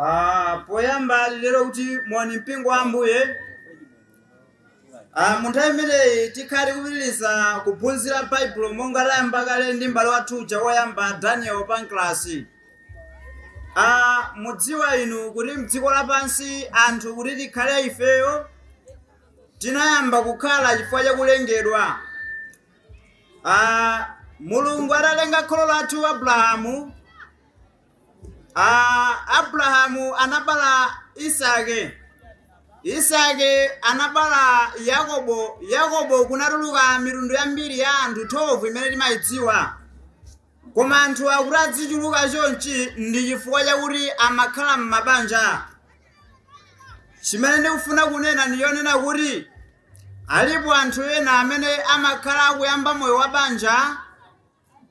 Ah, poyamba ndinene kuti moni mpingo wa ambuye ah, mu nthawi imeneyi tikhala tikupitiriza kuphunzira baibulo monga wayamba kale ndi mbale wathu uja woyamba daniel panklasi ah, mudziwa inu kuti mdziko lapansi anthu kuti tikhale ifeyo tinayamba kukhala chifukwa chakulengedwa ah, mulungu adalenga kholo lathu abrahamu Ah, abrahamu anabala isake isake anabala yakobo yakobo kunatuluka mitundu yambiri ya anthu 12 imene timayidziwa koma anthu kuti adzichuluka chonchi ndi chifukwa chakuti amakhala m'mabanja chimene ndikufuna kunena ndi chonena kuti alipo anthu ena amene amakhala akuyamba moyo wa banja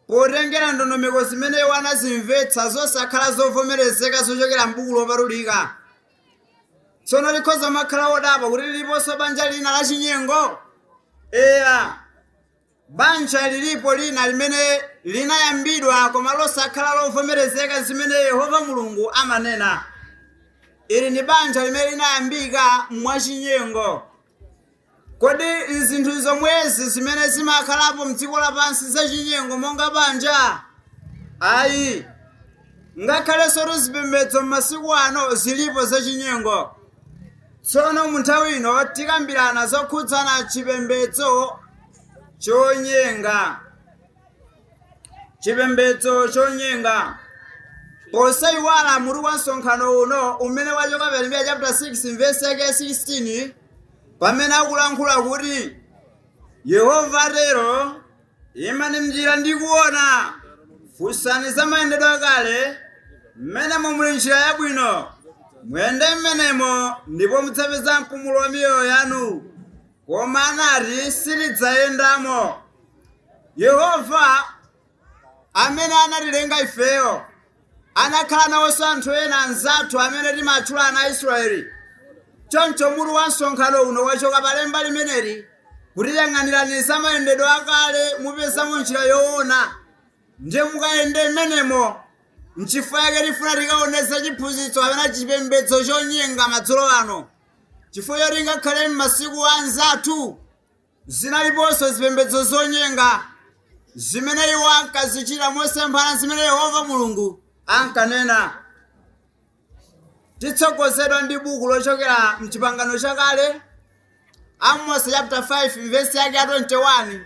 Potengera ndondomeko zimene iwo anazimvetsa zosakhala zovomerezeka zochokera m'Buku Lopatulika, tsono mukhoza kumakhala odabwa kuti liliponso banja lina la chinyengo? Eya, banja lilipo lina limene linayambidwa koma losakhala lovomerezeka zimene Yehova Mulungu amanena. Ili ndi banja limene linayambika mwachinyengo. Kodi zinthu zomwezi zimene zimakhalapo m'dziko lapansi zachinyengo monga banja? Ayi. Ngakhalensotu zipembedzo m'masiku ano zilipo zachinyengo. Tsono mu nthawi ino tikambirana zokhudzana chipembedzo chonyenga. chipembedzo chonyenga posaiwala mutu wa msonkhano uno umene wachoka pa yeremiya chapter 6 verse yake 16 pamene akulankhula kuti yehova atero imani mnjira ndi kuona funsani za mayendedwe akale mmenemo muli njira yabwino muyende mmenemo ndipo mudzapeza mpumulo wa miyoyo yanu Koma anati, Sitidzayendamo. Yehova, amene anatilenga ifeyo, anakhala nawonso anthu ena anzathu amene timawatchula ana a Isiraeli. Choncho mutu wa msonkhano uno wachoka pa lemba limeneli kuti yang'anirani za mayendedwe akale mupezamo njira yoona ndiye mukayende mmenemo. N'chifukwa chake tifuna tikaone za chiphunzitso kapena chipembedzo chonyenga madzulo ano. Chifukwa choti ngakhale m'masiku a anzathu zinaliponso zipembedzo zonyenga zimene iwo ankazichita mosemphana ndi zimene Yehova Mulungu ankanena. Titsogozedwa ndi buku lochokera m'Chipangano Chakale, Amosi chapter 5 vesi yake ya 21.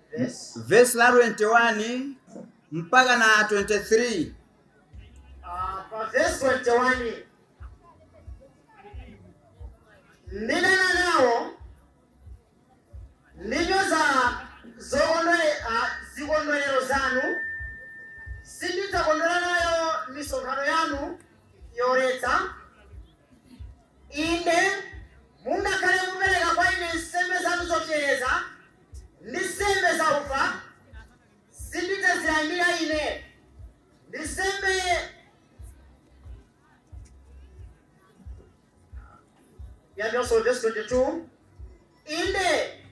vesi la 21 mpaka na 23 Ah, vesi 21 ndidana nawo ndinyoza zokondwe- ah, zikondwerero zanu sindidzakondwera nayo misonkhano yanu yoletsa inde mungakhale mupereka kwa ine nsembe zanu zopsereza ndi nsembe zaufa sindidzazilandira ine, ndi nsembe ya- verse 22 inde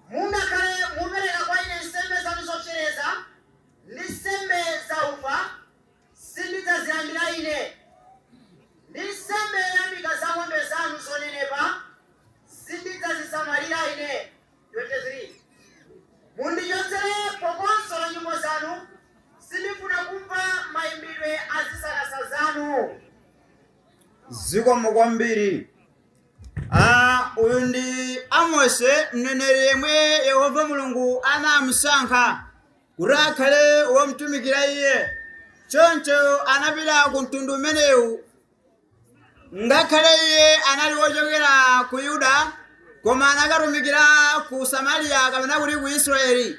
mungakhale mupereka kwa ine nsembe zanu zopsereza ndi nsembe zaufa sindidzazilandira ine ndi nsembe zoyamika za ng'ombe zanu zonenepa sindidzazisamalira ine 23 mundichotsere phokoso la nyimbo zanu, sindifuna kumva mayimbidwe a zisakasa zanu. Zikomo kwambiri. Ah, uyu ndi Amose mneneri yemwe Yehova Mulungu anamusankha kuti akhale womtumikira iye. Choncho anapita ku mtundu umenewu Ngakhale iye anali wochokera ku Yuda, koma anakatumikira ku Samariya kapena kuti ku Israeli.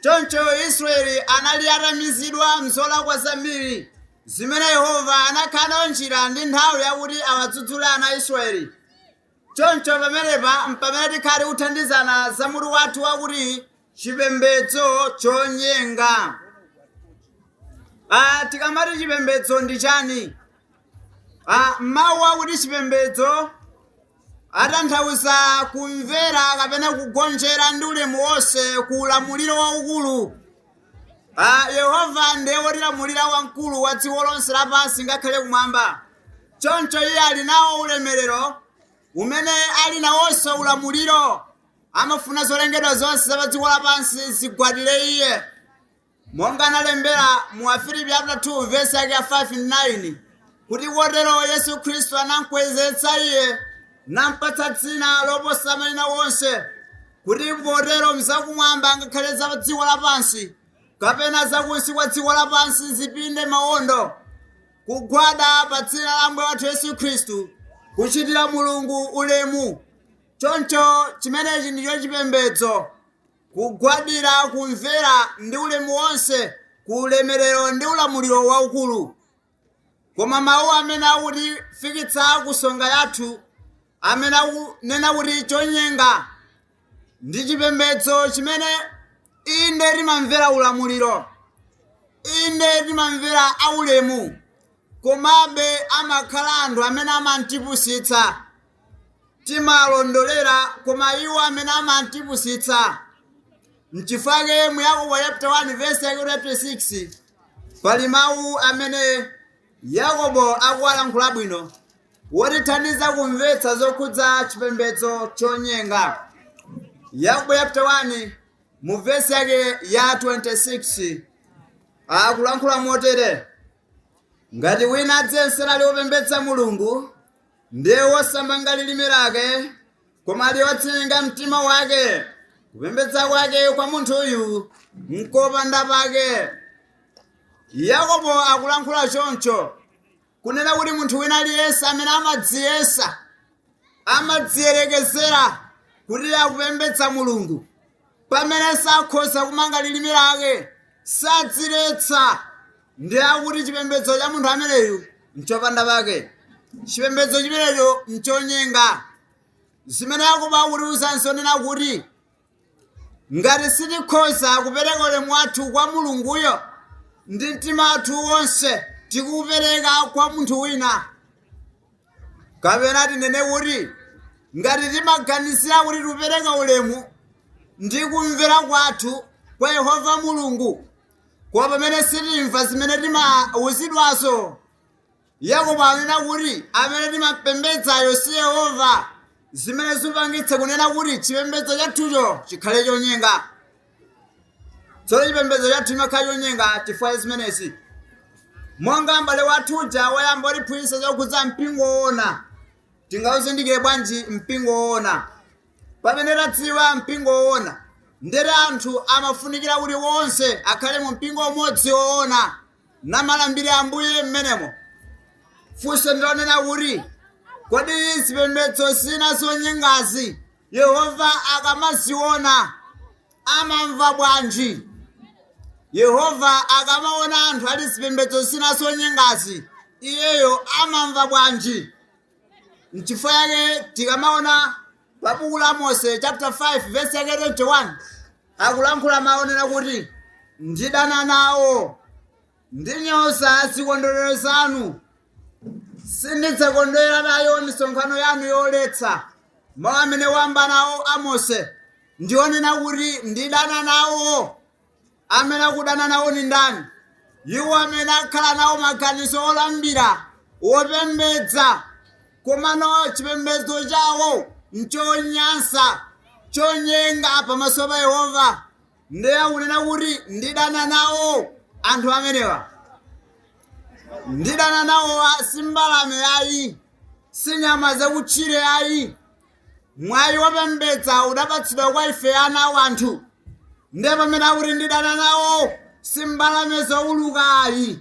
Choncho Israeli anali atamizidwa m'zolakwa zambiri zimene Yehova anakhala nayo njira ndi nthawi yakuti awadzudzule ana a Israeli. Choncho pamenepa mpamene tikhala tikuthandizana za mutu wathu wakuti chipembedzo chonyenga ah, tikamati chipembedzo ndi chani ah, mawu akuti chipembedzo atanthauza kumvera kapena kugonjera ndi ulemu wonse ku ulamuliro waukulu ah, yehova ndiye wotilamulira wamkulu wa dziko lonse lapansi ngakhale kumwamba choncho iye ali nawo ulemerero umene ali nawonso ulamuliro amafuna zolengedwa zonse za padziko lapansi zigwadire iye monga analembera mu afilipi chapter 2 verse yake ya 5 ndi 9 kuti kotero yesu khristu anamkwezetsa iye nampatsa dzina loposa mayina wonse kuti potero mzakumwamba ngakhale za dziko lapansi kapena zakunsi kwa dziko lapansi zipinde mawondo kugwada pa dzina la ambuye wathu yesu khristu kuchitira mulungu ulemu choncho chimenechi ndicho chipembedzo kugwadira kumvera ndi ulemu wonse ku ulemerero ndi ulamuliro waukulu koma mawu amene akutifikitsa ku nsonga yathu amene akunena kuti chonyenga ndi chipembedzo chimene inde timamvera ulamuliro inde timamvera aulemu komabe amakhala anthu amene amangotipusitsa timalondolera koma iwo amene amangotipusitsa mchifukwa chake mu yakobo chapter 1 verse yake 26 pali mawu amene yakobo akuwalankhula bwino wotithandiza kumvetsa zokhudza chipembedzo chonyenga yakobo chapter 1 mu verse yake ya 26 akulankhula motere ngati wina adziyesera ali wopembedza mulungu Ndiye wosamanga lilime lake, koma ali wonyenga mtima wake. Kupembedza kwake kwa munthuyu nkopanda pake. Yakobo akulankhula choncho kunena kuti munthu wina aliyense amene amadziyesa amadziyerekezera kuti akupembedza mulungu pamene sakhoza kumanga lilime lake sadziletsa ndiye kuti chipembedzo cha munthu ameneyu nchopanda pake chipembedzo chimenecho nchonyenga zimene yakobo akutiuza nzonena kuti ngati sitikhoza kupereka ulemu wathu kwa mulunguyo ndi mtima wathu wonse tikuupereka kwa munthu wina kapena tinene kuti ngati timaganizira kuti tikupereka ulemu ndi kumvera kwathu kwa yehova mulungu koma pamene sitimva zimene timauzidwazo yakobo anena kuti amene timapembedzayo si yehova zimene zipangitse kunena kuti chipembedzo chathucho chikhale chonyenga tsono chipembedzo chathu chimakhala chonyenga chifukwa cha zimenezi monga m'bale wathu uja wayamba watiphunzitsa zokhudza mpingo woona tingawuzindikire bwanji mpingo woona pamene tadziwa mpingo woona ndiye anthu amafunikira kuti wonse akhale mu mpingo umodzi woona namalambira ambuye mmenemo funso ndilonena kuti kodi zipembedzo zina zonyengazi Yehova akamaziona amamva bwanji? Yehova akamaona anthu ali zipembedzo zina zonyengazi, iyeyo amamva bwanji? N'chifukwa chake tikamaona pa buku la Amosi chapter 5 verse yake 21 akulankhula mawu onena kuti ndidana nawo Ndinyoza zikondwerero zanu, sindidzakondwera nayo misonkhano yanu yoletsa. Mawu amene wamba nawo Amose ndi onena kuti ndidana nawo. Amene akudana nawo ndi ndani? Iwo amene akhala nawo maganizo olambira wopembedza, komano chipembedzo chawo nchonyansa, chonyenga pamaso pa Yehova. ndiye akunena kuti ndidana nawo anthu amenewa ndidana nawo a- si mbalame yayi si nyama zakutchire yayi mwayi wopembedza udapatsidwa kwa ife ana a anthu ndiye pamene akuti ndidana nawo si mbalame zouluka ayi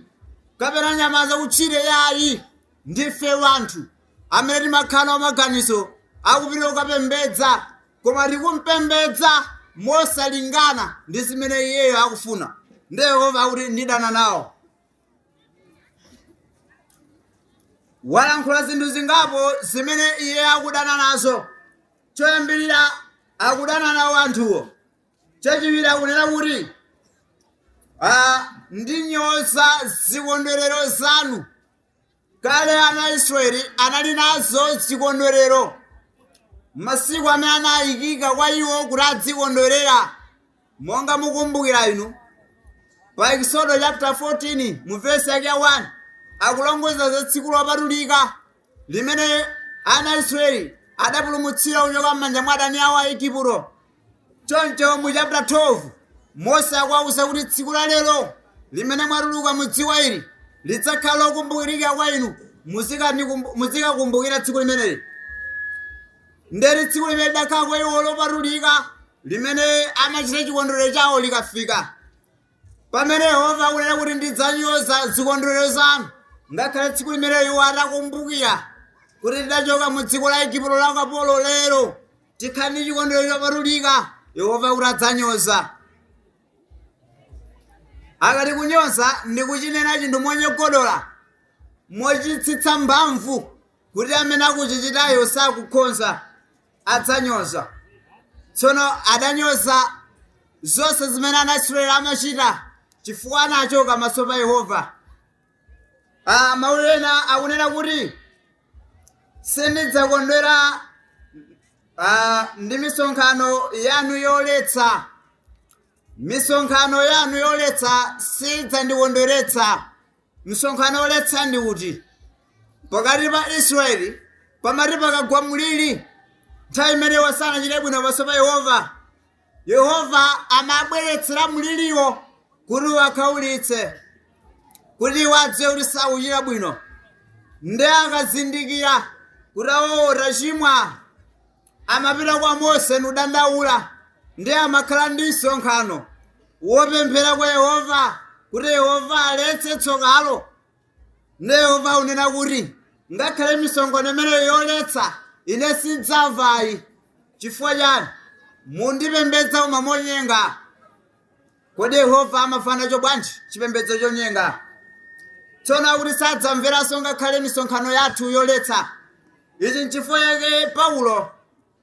kapena nyama zakutchire yayi ndife wanthu amene timakhala nawo maganizo akupita kukapembedza koma tikumpembedza mosalingana ndi zimene iyeyo akufuna ndiye yehova akuti ndidana nawo walankhula zinthu zingapo zimene iye akudana nazo choyambirira akudana nawo anthuwo chachiwiri akunena kuti ah, ndinyoza zikondwerero zanu Kale ana a Israeli anali nazo zikondwerero masiku amene anayikika kwa iwo kuti adzikondwerera monga mukumbukira inu pa Eksodo chapter 14 mu verse yake 1 akulongoza za tsiku lopatulika limene ana a Israeli adapulumutsira kuchoka m'manja mwa adani awo a Igupto Choncho mu chapter 12 Mose akuwauza kuti tsiku la lero limene mwatuluka mu dziko ili lidzakhala lokumbukirika kwa inu muzikanikumbu- muzikakumbukira tsiku limeneli nderi tsiku limene lidakhala kwa iwo lopatulika limene amachita chikondwerero chawo likafika pamene yehova akunena kuti ndidzanyoza zikondwerero zanu ngakhale tsiku limene iwo atakumbukira kuti tidachoka mu dziko la igupto la ukapolo lero tikhale ndi chikondwerero chopatulika yehova akuti adzanyoza akati kunyoza ndi kuchinena chinthu monyogodola mochitsitsa mphamvu kuti amene akuchichitayo sakukhonza adzanyoza tsono adanyoza zonse zimene anaisraeli amachita chifukwa anachoka pamaso pa yehova Ah, mawu ena akunena kuti sindidzakondwera ah, ndi misonkhano yanu yoletsa misonkhano yanu yoletsa sidzandikondweretsa misonkhano yoletsa ndi kuti pakati pa israeli pamati pakagwa mliri nthawi imene iwo sanachite bwino pamaso pa yehova Yehova amabweretsera mliriwo kuti awakhaulitse, kuti iwo adziwe kuti sakuchita bwino. Ndiye akazindikira kuti awawa tachimwa, amapita kwa Mose nudandaula, ndiye amakhala ndi msonkhano wopemphera kwa Yehova kuti Yehova aletse tsokalo. Nde Yehova akunena kuti, Ngakhale misonkhano imeneyo yoletsa, ine sindzamva ayi. Chifukwa chani? Mundipembedza koma monyenga. Kodi Yehova amamvana nacho bwanji chipembedzo chonyenga? Tsono akuti sadzamveranso ngakhale misonkhano yathu yoletsa. Ichi nchifukwa chake Paulo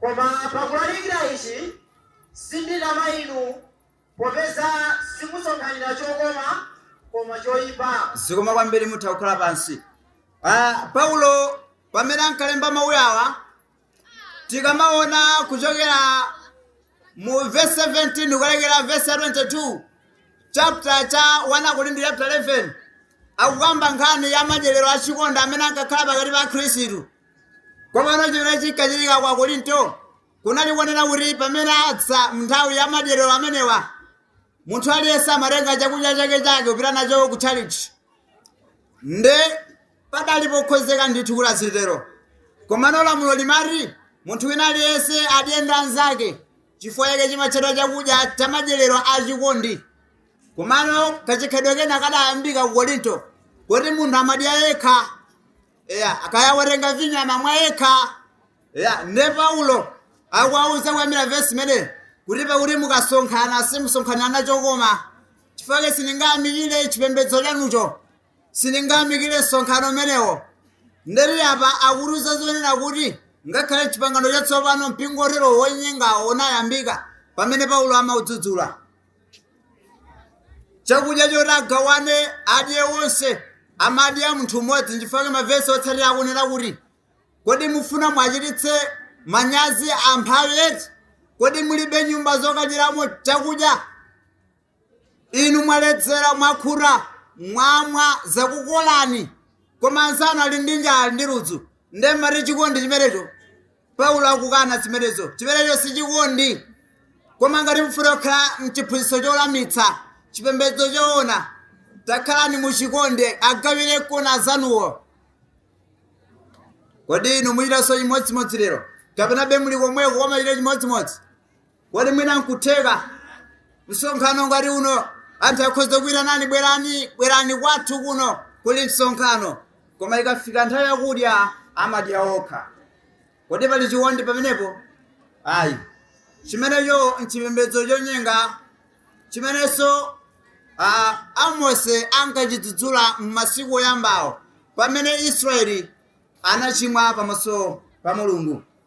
Koma pakulalikira ichi sinditama inu, popeza simusonkhanira chokoma, koma choipa. zikomo kwambiri mutha kukhala pansi Ah, paulo pamene ankalemba mawu awa tikamaona kuchokera mu verse 17 kukalekera verse 22 chapter cha 1 akorinto chapter 11 akukamba nkhani ya madyerero achikondi amene ankakhala pakati pa akhristu Komano chimene chinkachitika kwa Korinto kunali konena kuti pamene adza mu nthawi ya madyerero amenewa munthu aliyense amatenga chakudya chake chake kupita nacho ku tchalitchi nde padali pokhozeka ndithu kuti azitero komano lamulo limati munthu wina aliyense adye ndi anzake chifukwa chake chimatchedwa chakudya cha madyerero achikondi komano kachikhalidwe kena kadayambika ku korinto kuti munthu amadya yekha eya kaya watenga vinyo amamwa yekha eya nde paulo akuwauza kuyambira vesi imene kuti pakuti mukasonkhana simusonkhanira chokoma chifukwa chake sindiyamikira chipembedzo chanucho sindiyamikira msonkhano umenewo nde ali apa akutiuza zonena kuti ngakhale chipangano chatsopano mpingo otero wonyengawo unayambika pamene paulo amaudzudzula chakudya choti agawane adye onse amadya munthu mmodzi ndichifukwa mavesi otsatira akunena kuti kodi mufuna mwachititse manyazi amphawi eti kodi mulibe nyumba zokadyeramo chakudya inu mwaledzera mwakhuta mwamwa zakukolani koma anzanu ali ndi njala ndi ludzu nde mmati chikondi chimenecho Paulo akukana zimenezo. Chimenecho si chikondi. Koma ngati mufuna kukhala mchiphunzitso cholamitsa, chipembedzo choona, takhalani muchikondi, agawirekoni anzanuwo. Kodi inu muchitanso chimodzimodzi lero? Kapenabe muli komweko komachita chimodzimodzi? kodi mwina nkutheka msonkhano ngati uno anthu akhoza kuyitanani bwerani bwerani kwathu kuno kuli msonkhano koma ikafika nthawi yakudya amadya okha kodi pali chikondi pamenepo ayi chimenecho nchipembedzo chonyenga chimenenso amose ankachidzudzula m'masiku oyambawo pamene israeli anachimwa pamaso pa mulungu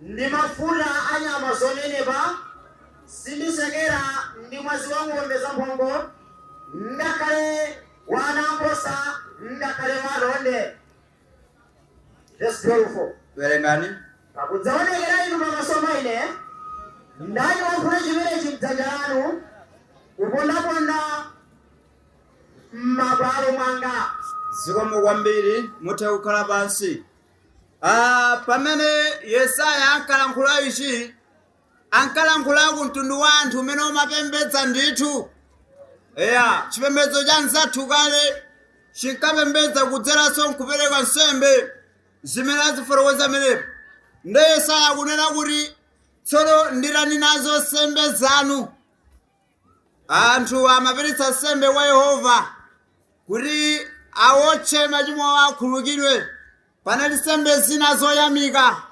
ndi mafuta a nyama zonenepa, sindisekera ndi mwazi wa ng'ombe zamphongo, ngakhale wa anaankhosa, ngakhale wa atonde. Vesi 12. werengani Pakudzaonekera inu pamaso pa ine, ndani wofuna chimenechi m'dzanja lanu, kupondaponda m'mabwalo mwanga. zikomo kwambiri mutha kukhala pansi Ah, pamene yesaya ankalankhula ichi ankalankhula ku mtundu wa anthu umene umapembedza ndithu eya chipembedzo cha mzathu kale chinkapembedza kudzeranso nkupereka nsembe zimene azifotokoza menepo nde yesaya akunena kuti tsono nditani nazo nsembe zanu anthu amapereka nsembe kwa yehova kuti awotche machimo awo akhululukidwe panali nsembe zina zoyamika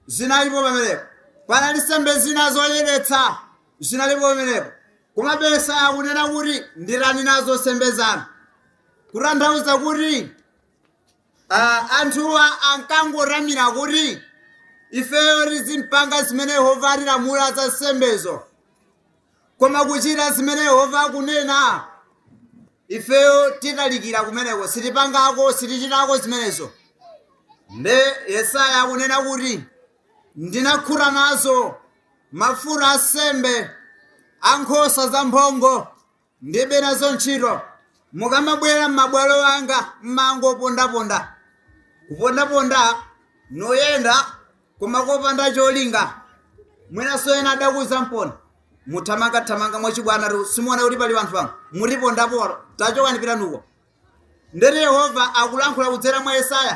zinalipo pamenepo panali nsembe zina zoyeretsa zinalipo pamenepo koma yesaya akunena kuti nditani nazo nsembe zanu kutanthauza kuti Ah, anthuwa ankangotamira kuti ifeyo tizimpanga zimene yehova atilamula za nsembezo koma kuchita zimene yehova akunena ifeyo titalikira kumeneko sitipangako sitichitako zimenezo nde yesaya akunena kuti ndinakhuta nazo mafuta a nsembe a nkhosa zamphongo Ndilibe nazo ntchito. Mukamabwera m'mabwalo anga m'mangopondaponda, kupondaponda noyenda koma kopanda cholinga. Mwinanso ena adakuuzamponi kuti. Muthamangathamanga mwachibwana tu simuona kuti pali anthu pano? Mutipondapo tachokani pitani uko. Ndiyeno Yehova akulankhula kudzera mwa Yesaya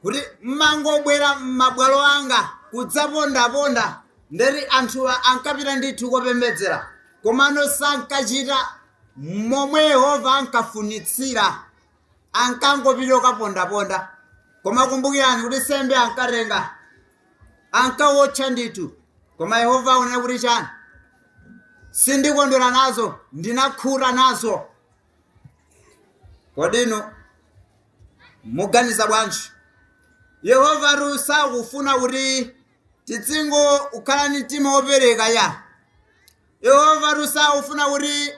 kuti, M'mangobwera m'mabwalo anga kudzapondaponda. Ndiyeno anthuwa ankapita ndithu kopembedzera, komano sankachita momwe Yehova ankafunitsira. Ankangopita kokapondaponda. Koma kumbukirani kuti nsembe ankatenga, ankawotcha ndithu. Koma Yehova akunena kuti chani? Sindikondwera nazo, ndinakhuta nazo. kodi inu muganiza bwanji yehovatu sakufuna kuti tidzingokhala ni mtima wopereka yayi yehovatu sakufuna kuti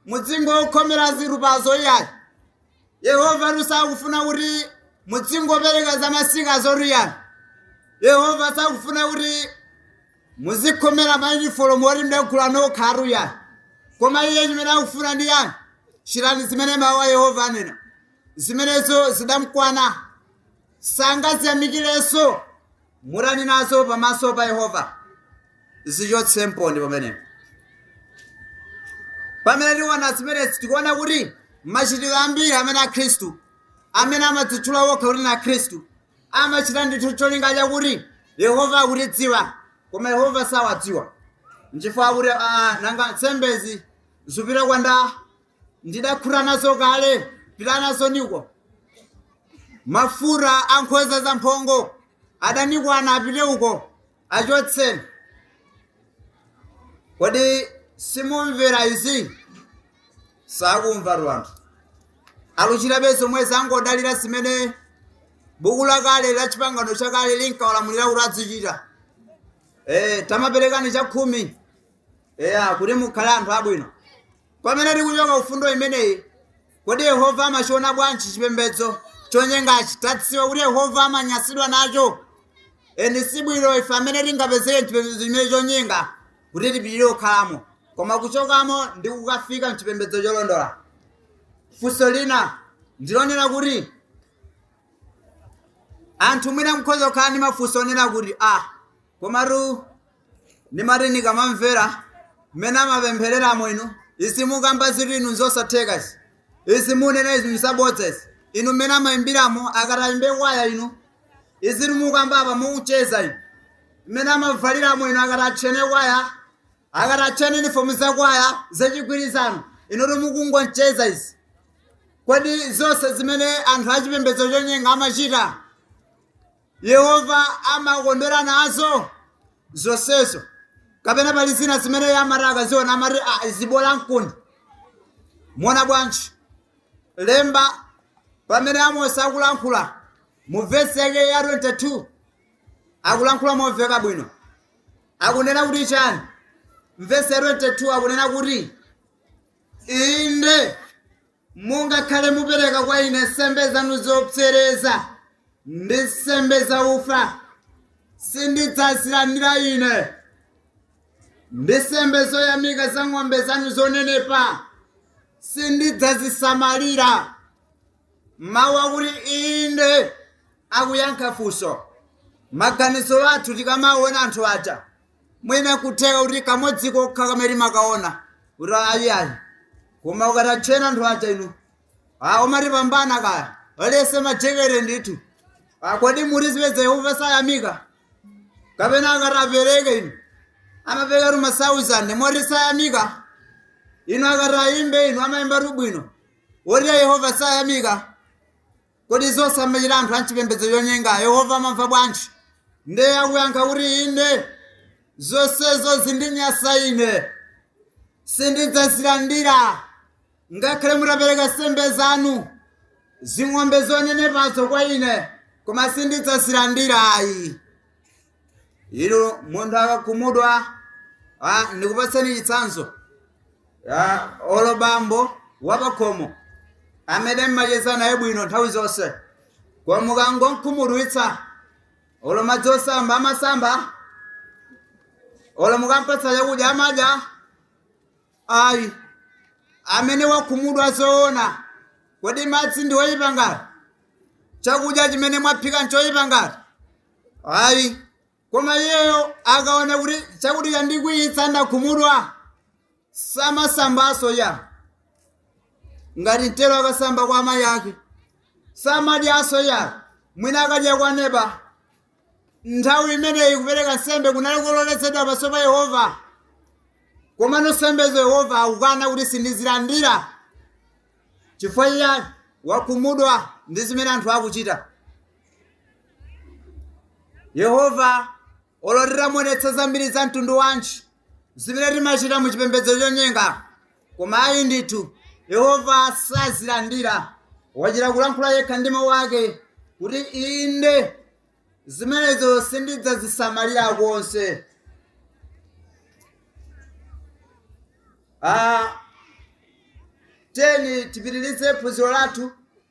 mudzingokhomera zitupazo iyayi yehovatu sakufuna kuti mudzingopereka za masikazotu iyayi yehova sakufuna kuti Muzikhomera mayunifolomu oti mudagula nokhatu yayi. Koma iye chimene akufuna ndi yani? Chitani zimene mawu a Yehova anena. Zimenezo zidamkwana. Sangaziyamikirenso. Mutani nazo pamaso pa Yehova. Zichotsemponi pamenepo. Pamene tiona zimenezi tikuona kuti machitidwe ambiri amene a Khristu amene amadzitchula okha kuti na Khristu amachita ndithu cholinga chakuti yehova akutidziwa koma yehova sawadziwa nchifukwa akuti ah, nanga nsembezi zipita kwanda ndidakhuta nazo kale pita nazoni uko mafuta a nkhosa za mphongo adanikwana apite uko achotseni kodi simumvera izi sakumvatu anthu aluchitabe zomwezo angodalira zimene buku lakale la chipangano chakale linkawalamulira kuti azichita eh, tamaperekani chakhumi eya kuti mukhale anthu abwino Pamene tikuchoka ku fundo imeneyi, kodi Yehova amachiona bwanji chipembedzo chonyengachi? Tadziwa kuti Yehova amanyansidwa nacho. Eni si bwino ife amene tingapezeke m'chipembedzo chimene chonyenga kuti tipitirire kukhalamo, koma kuchokamo ndi kukafika m'chipembedzo cholondola. Funso lina ndilonena kuti anthu mwina mukhoza kukhala ndi mafunso onena kuti a komatu ndimati ndikamamvera mmene amapemphereramo inu izi mukamba zinthu inu nzosatheka izi izi munena izi nzabodza izi inu mmene amayimbiramo akati ayimbe kwaya inu izi mukamba apa mukucheza inu mmene amavaliramo inu akati atchene kwaya akati atchene inifomu za kwaya zachigwirizano inutu mukungocheza izi kodi zonse zimene anthu achipembedzo chonyenga amachita Yehova amakondwera nazo zonsezo kapena pali zina zimene iye amati akaziona amati "Ah, izi bola nkuni muona bwanji lemba pamene amosi akulankhula mu vesi yake ya 22 akulankhula momveka bwino akunena kuti chani mvesi ya 22 akunena kuti inde Mungakhale mupereka kwa ine nsembe zanu zopsereza ndi nsembe zaufa, sindidzazilandira ine. Ndi nsembe zoyamika za ng'ombe zanu zonenepa, sindidzazisamalira. Mawu akuti inde akuyankha funso. Maganizo athu tikamaona anthu aja mwina kutheka kuti kamodzi kokha kamene timakaona kuti ayiayi koma mukatchena anthu aja inu Ah, umatipambana kaya walese majekete ndithu Ah, kodi mukuziyesa yehova sayamika kapena akati tipereke inu amapereka tu masauzande moti sayamika inu akati tiyimbe inu amayimba tu bwino woti yehova sayamika Kodi zonse zimene amachita anthu a m'chipembedzo chonyenga Yehova amamva bwanji? Ndiye akuyankha kuti, Inde, zonsezo zindinyasa ine. Sindidzazilandira. Ngakhale mutapereka nsembe zanu, zing'ombe zonenepazo kwa ine, koma sindidzazilandira ayi. inu munthu akakhumudwa ah, ndikupatseni chitsanzo ah, olo bambo wapakhomo amene mmacheza naye bwino nthawi zonse koma mukangomkhumudwitsa olo madzi osamba amasamba olo mukampatsa chakudya amadya ayi amene wakhumudwa zoona kodi madzi ndi oyipa ngati chakudya chimene mwaphika nchoyipa ngati ayi koma iyeyo akaona kuti chakuti chandikwiyitsa ndakhumudwa samasambaso ya ngati mtero akasamba kwa amayi ake samadyaso ya mwina akadya kwa neba nthawi imeneyi kupereka nsembe kunali kuloledwa pamaso pa yehova komano nsembezo yehova akukana kuti sindizilandira chifukwa iye wakhumudwa ndi zimene anthu akuchita yehova olo titamuonetsa zambiri za mtundu wanji zimene timachita mu chipembedzo chonyenga koma ayi ndithu yehova sazilandira wachita kulankhula yekha ndi mawu ake kuti inde zimenezo sindidzazisamalira konse Ah, tiyeni tipitirize phunziro lathu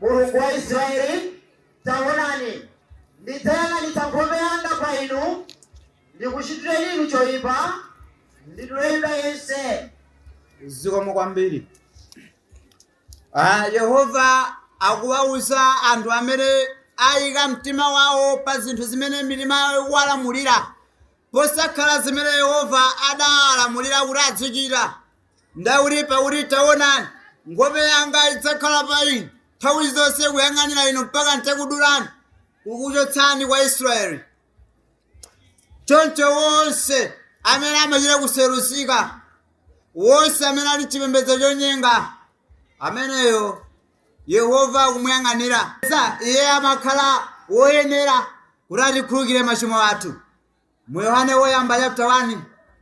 Mulungu wa Israyeli, taonani, ndidzayang'anitsa nkhope yanga pa inu, ndikuchitireni inu choipa, ndidule Yuda yense. zikomo kwambiri Ah, yehova akuwawuza anthu amene ayika mtima wawo pa zinthu zimene mitima yawo ikuwalamulira posakhala zimene yehova adawalamulira kuti azichita Ndakuti pakuti taonani, nkhope yanga idzakhala pa inu, nthawi zonse kuyang'anira inu mpaka ntakudulani, kukuchotsani kwa Israeli. Choncho wonse amene amachita kuseruzika, wonse amene ali chipembedzo chonyenga, ameneyo Yehova akumuyang'anira. Sa- Iye amakhala woyenera kuti atikhululukire machimo athu. Mu Yohane Woyamba chapter 1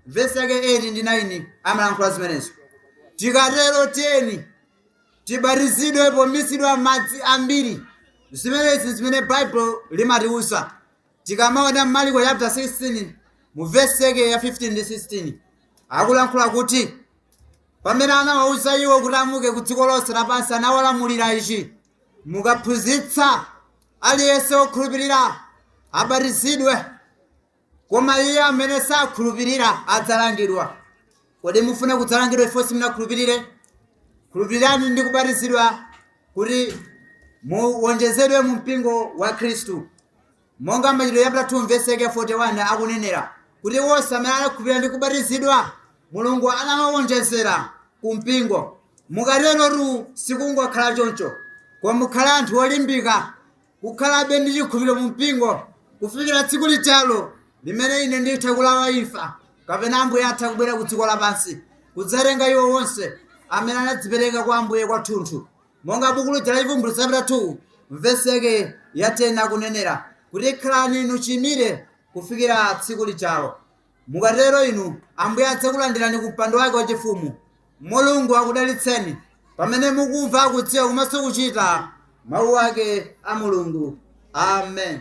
vesi yake 8 ndi 9 amalankhula zimenezo. Tikatero tiyeni tibatizidwe pomizidwa m'madzi ambiri zimenezi zimene baibulo limatiwuza tikamaona Maliko chapter 16 mu vesi yake ya 15 ndi 16 akulankhula kuti pamene anawawuza iwo kuti amuke ku dziko lonse lapansi anawalamulira ichi mukaphunzitsa aliyense wokhulupirira abatizidwe koma iye amene sakhulupirira adzalangidwa kodi mufuna kudzalangidwa chifukwa simunakhulupirire khulupirirani ndi kubatizidwa kuti muwonjezedwe mu mpingo wa khristu monga machitidwe chapita 2 mvesi yake 41 akunenera kuti wonse amene anakhulupirira ndi kubatizidwa mulungu anawawonjezera ku mpingo mukaterotu sikungokhala choncho koma mukhala anthu olimbika kukhalabe ndi chikhulupiriro mu mpingo kufikira tsiku lijalo limene ine nditha kulawa imfa kapena ambuye atha kubwera ku dziko lapansi kudzatenga iwo wonse amene anadzipereka kwa ambuye kwathunthu monga buku lija la chivumbulutso chapita 2 mvesi yake ya 10 akunenera kuti khalani inu chiyimire kufikira tsiku lijalo Mukatero inu Ambuye adzakulandirani ku mpando wake wachifumu. Mulungu akudalitseni pamene mukumva, kudziwa komanso kuchita mawu ake a Mulungu. Amen.